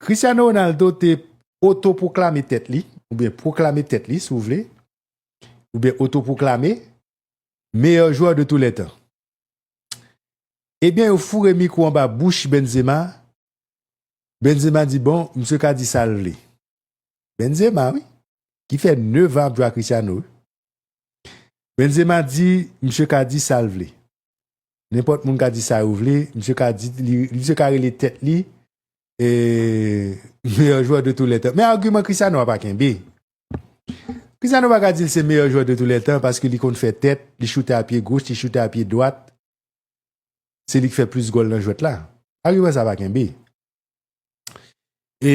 Cristiano Ronaldo te otopwoklame tèt li, oubyen pwoklame tèt li si w vle, oubyen otopwoklame, meyè jwè de tou lè tan. Ebyen yo foure mikwo anba bouch Benzema, Benzema di bon, misye ka di sa l vle. Benzema wi, ki fè 9 an ap jwe ak Cristiano wi. Benzema di misye ka di sa l vle. Nenpòt moun ka di sa yo vle, misye ka di li, misye ka rele tèt li meyè jwè de tou lè tan. Men agiman Cristiano a pa kenbe. Cristiano pa ka di li se meyè jwè de tou lè tan paske li konn fè tèt, li choute a pye goch, li choute a pye dwat. Se li ki fè plis gòl nan jwèt la. Agiman sa pa kenbe. E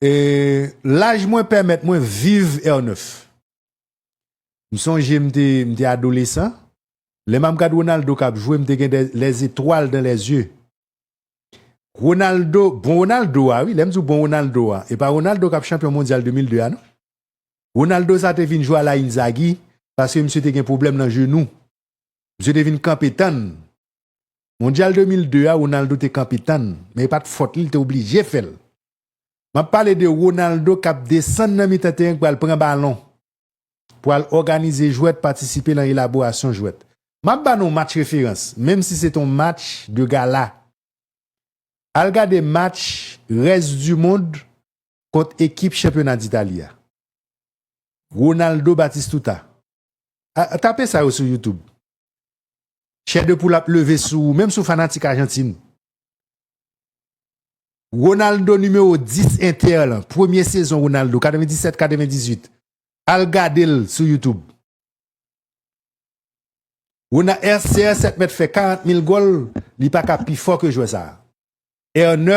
E laj mwen pèmèt mwen viv èr 9. M sonje m te m te adolesan, lè m ap gad Ronaldo k ap jwe m te gen dè lèzetwal dan lèzye. Ronaldo, bon Ronaldo a wi, lè m di w bon Ronaldo a, e pa Ronaldo k ap chanpyon mondyal 2002 a non. Ronaldo sa te vin jwe ala Inzagi paske misye te gen pwoblèm nan jenou. Misye te vin kanpe tann Mondyal 2002 a Ronaldo te kanpe tann, men e pat fòt li, li te oblije fè l. M ap pale de Ronaldo k ap desann nan mitan teren k pral pran balon pou al òganize jwèt, patisipe lan elaborasyon jwèt. M ap ba nou yon match referans, menm si se te yon match de gala. Al gade match Rès di Mond kont ekip chanpyona d'Italie a. Ronaldo Batistuta. Tape sa yo sou YouTube. Chè de poul ap leve sou ou menm si w fanatik Ajantin. Ronaldo nimewo 10 Inter lan premye sezon Ronaldo 97 98 al gade l sou youtube. Ronald CR7 mèt fè 40 mil gòl li paka pi fò ke jwè sa. R9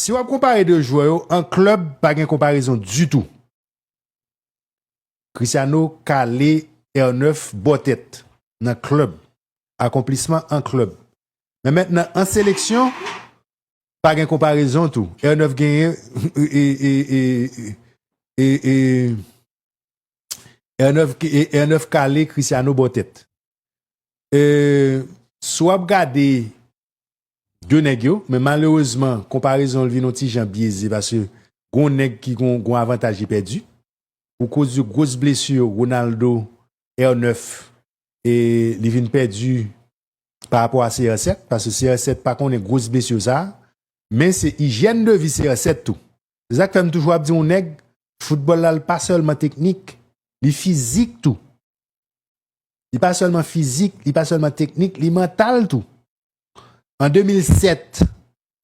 Si wap konpare 2 jwè yo an klèb pa gen konparezon ditou. Cristiano kale R9 bò tèt nan klèb, akonplisman an klèb. Men mentnan an seleksyon pa gen konparezon tou. R9 genyen R9 kale Cristiano bò tèt. Si wap gade 2 nèg yo, men malerezman konparezon l vin yon ti jan byeze paske gon nèg ki gon gon avantaj li pèdi pou koz de gwos blesu Ronaldo R9 e li vin pèdi pa rapò a CR7 paske CR7 pa konnen gwos blesu sa men se ijyèn de vi CR7 tou se sak fè m toujou ap di yon nèg foutbòl la l pa sèlman teknik li fizik tou Li pa sèlman fizik, li pa sèlman teknik, li mantal tou. An 2007,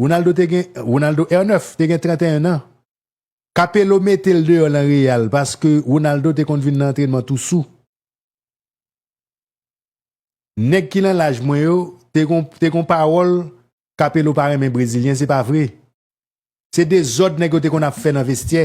Ronaldo te gen, Ronaldo R9 te gen 31 an. Capello mete l deyò lan Real paske Ronaldo te konn vin lan antrenman tou sou. Nèg ki lan laj mwen yo te gon te gon pawòl Capello pa renmen brezilyen se pa vre. Se dezòd nèg yo te konn ap fè nan vestyè.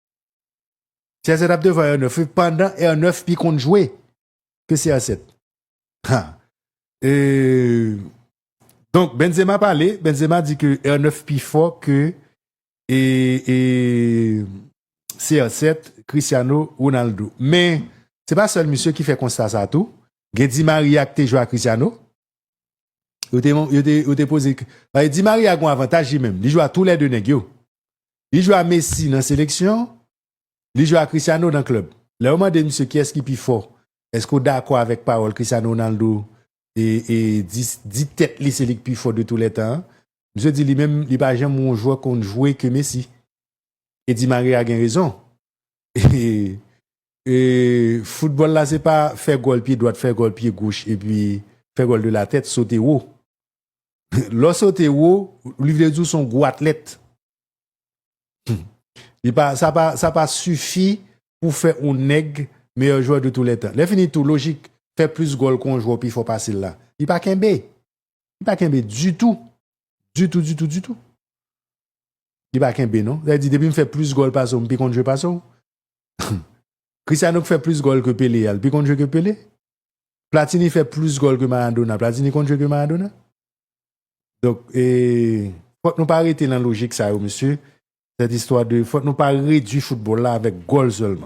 CR7 ap devan R9 wi pandan R9 pi konn jwe ke CR7. Ha. E Donk Benzema pale, Benzema di ke R9 pi fò ke e e CR7, Cristiano Ronaldo. Men se pa sèl misye ki fè konsta sa tou, gen Di Maria ki te jwe a Cristiano. Yo te yo te poze, Di Maria gen yon avantaj li menm, li jwe a tou lè 2 nèg yo. Li jwe a Messi nan seleksyon, li jwe a Cristiano nan klèb. Lè yo mande misye kiyès ki pi fò, èske ou dakò avèk pawòl Cristiano Ronaldo di tèt li se li ki pi fò de tou lè tan an? Misye di li menm li pa janm wè yon jwè konn jwe ke Messi. E Di Maria gen rezon. Foutbòl la se pa fè gòl pye dwat, fè gòl pye goch epi fè gòl de la tèt, sote wo. Lè w sote wo, li vle di w se yon gwo atlèt. Sa pa sifi pou fè yon nèg meyè jwè de tou lè tan. Lè fini tou, lojik fè plis gòl ke yon jwè pi fò pase l la, li pa kenbe. Li pa kenbe ditou. Ditou, ditou, ditou. Li pa kenbe non. Sa vle di depi m fè plis gòl pase w, m pi konn jwe pase w. Cristiano ki fè plis gòl ke Pele a, li pi konn jwe ke Pele? Platini fè plis gòl ke Maradona. Platini konn jwe ke Maradona? Donk, e, fòk nou pa rete nan lojik sa yo, mesye. Sèt istwa de, fòk nou pa redwi foutbòl la avèk gòl sèlman.